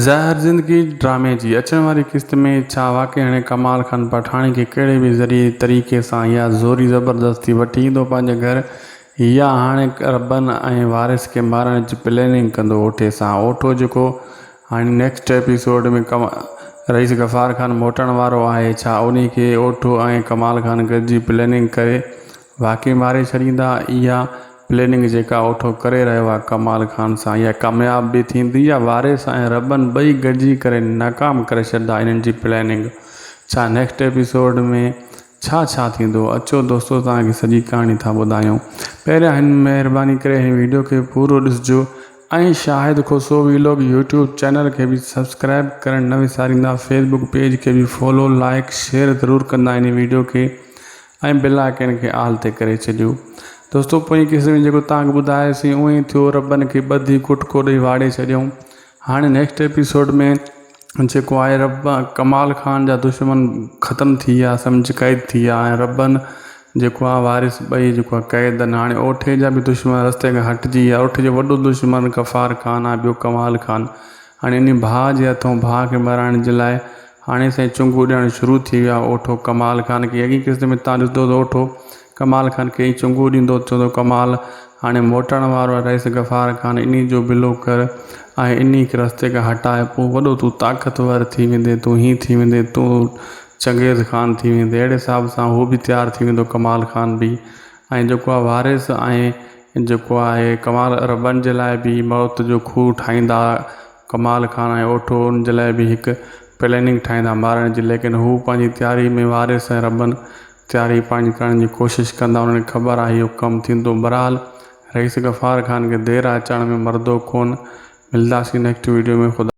زهر زندگي ڊرامي جي اچڻ واري قسط ۾ ڇا واقعي هاڻي ڪمال خان پٺاڻي کي ڪهڙي به ذريعي طريقي سان يا زوري زبردستي وٺي ايندو پنهنجي گهر يا هاڻي ربن ۽ وارث کي مارڻ جي پليننگ ڪندو اوٺي سان اوٺو جيڪو هاڻي نيڪسٽ ايپيسوڊ ۾ رئيس غفار خان موٽڻ وارو آهي ڇا انهي کي اوٺو ۽ ڪمال خان گڏجي پليننگ ڪري واقعي ماري ڇڏيندا اها پليننگ جيڪا اوٺو ڪري رهيو آ ڪمال خان سان اها ڪامياب به ٿيندي يا وارث ۽ ربن ٻئي گڏجي ڪري ناڪام ڪري ڇڏدا انهن جي پليننگ ڇا نيڪسٽ ايپيسوڊ ۾ ڇا ڇا ٿيندو اچو دوستو توهان کي سڄي ڪهاڻي ٿا ٻڌايون پهريان هن مهرباني ڪري هن ويڊيو کي پورو ڏسجو ۽ Shahid Khoso vlog YouTube channel کي به سبسڪرائب ڪرڻ نه وساريندا فيسبوڪ پيج کي به فالو لائيڪ شيئر ضرور ڪندا هن ويڊيو کي ۽ بلا ڪين کي آل تي ڪري ڇڏيو. دوستو پوئين قصي ۾ جيڪو تانک ٻڌايو سين اوئين ئي ٿيو ربن کي ٻڌي ڪٽڪو ڏئي واڙي ڇڏيائون هاڻي نيڪسٽ ايپيسوڊ ۾ جيڪو آهي رب ڪمال خان جا دشمن ختم ٿي ويا سمجهه قيد ٿي ويا ۽ ربن جيڪو آهي وارث ٻئي جيڪو آهي قيدن هاڻي اوٺي جا به دشمن رستي کان هٽجي ويا اوٺي جو وڏو دشمن غفار خان آهي ٻيو ڪمال خان هاڻي انهي ڀاء جي هٿون ڀاء کي مرائڻ جي لاء هاڻي سائين چونگون ڏيڻ شروع ٿي ويا اوٺو ڪمال خان کي اڳئين قسط ۾ تان ڏسندو ته اوٺو ڪمال خان کي ئي چونگون ڏيندو چوندو ڪمال هاڻي موٽڻ وارو آهي رئيس غفار خان انهي جو بلو ڪر ۽ انهي کي رستي کان هٽاء پوء وڏو تون طاقتور ٿي ويندين تون هين ٿي ويندين تون چنگيز خان ٿي ويندين اهڙي حساب سان هو به تيار ٿي ويندو ڪمال خان به ۽ جيڪو آهي وارث ۽ جيڪو آهي ڪمال عربن جي لاء به موت جو کوهه ٺاهيندا ڪمال خان ۽ اوٺو ان جي لاء به هڪ پليننگ ٺاهيندا مارڻ جي ليڪن هو پنهنجي تياري ۾ وارث ۽ عربن تياري پنهنجي ڪرڻ جي ڪوشش ڪندا انهن کي خبر آهي اهو ڪم ٿيندو برحال رئيس غفار خان کي دير آهي چڙهڻ ۾ مردو کون ملداسين نيڪسٽ ويڊيو ۾ خدا